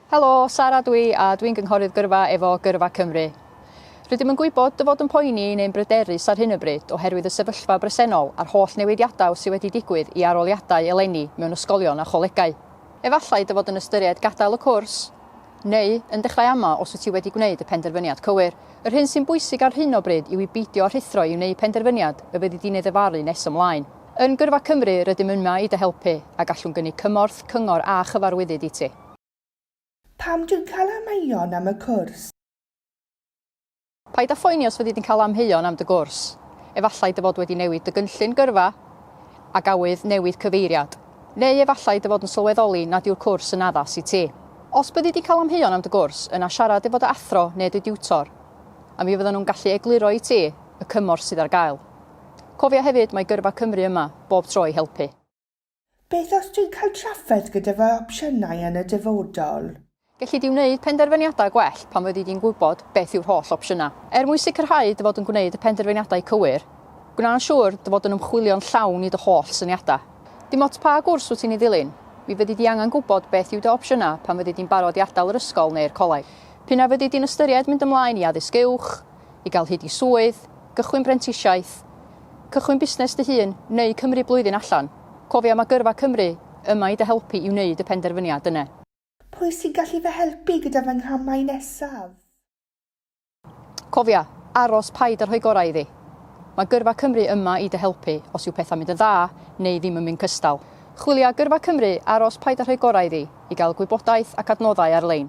Helo, Sara dw i a dwi'n gynghorydd gyrfa efo Gyrfa Cymru. Rydym yn gwybod dy fod yn poeni neu'n bryderus ar hyn o bryd oherwydd y sefyllfa bresennol a'r holl newidiadau sydd wedi digwydd i aroliadau eleni mewn ysgolion a cholegau. Efallai dy fod yn ystyried gadael y cwrs, neu yn dechrau ama os wyt ti wedi gwneud y penderfyniad cywir. Yr hyn sy'n bwysig ar hyn o bryd yw i beidio rhuthro i wneud penderfyniad y fyddi di'n ei ddyfaru nes ymlaen. Yn Gyrfa Cymru rydym yma i dy helpu a gallwn gynnig cymorth, cyngor a chyfarwyddyd i ti. Pam dwi'n cael amheuon am y cwrs? Paid â phoeni os fyddi di'n cael amheuon am dy gwrs. Efallai dy fod wedi newid dy gynllun gyrfa a gafodd newid cyfeiriad. Neu efallai dy fod yn sylweddoli nad yw'r cwrs yn addas i ti. Os byddi di'n cael amheuon am dy gwrs, yna siarad efo dy athro neu dy diwtor, a mi fyddan nhw'n gallu egluro i ti y cymorth sydd ar gael. Cofia hefyd mae Gyrfa Cymru yma bob tro i helpu. Beth os dwi'n cael trafferth gyda fy opsiynau yn y dyfodol? Gelli di wneud penderfyniadau gwell pan fyddi di'n gwybod beth yw'r holl opsiynau. Er mwyn sicrhau dy fod yn gwneud y penderfyniadau cywir, gwna'n siŵr dy fod yn ymchwilio'n llawn i dy holl syniadau. Dim ots pa gwrs wyt ti'n ei ddilyn, mi fyddi di angen gwybod beth yw dy opsiynau pan fyddi di'n barod i adael yr ysgol neu'r coleg. P'un a fyddi di'n ystyried mynd ymlaen i addysg uwch, i gael hyd i swydd, gychwyn brentisiaeth, cychwyn busnes dy hun neu cymryd blwyddyn allan, cofia mae Gyrfa Cymru yma i dy helpu i wneud y penderfyniad yna. Pwy sy'n gallu fy helpu gyda fy nghramau nesaf? Cofia, aros, paid â rhoi gorau iddi. Mae Gyrfa Cymru yma i dy helpu os yw pethau'n mynd yn dda neu ddim yn mynd cystal. Chwilia Gyrfa Cymru, aros, paid â rhoi gorau iddi, i gael gwybodaeth ac adnoddau ar-lein.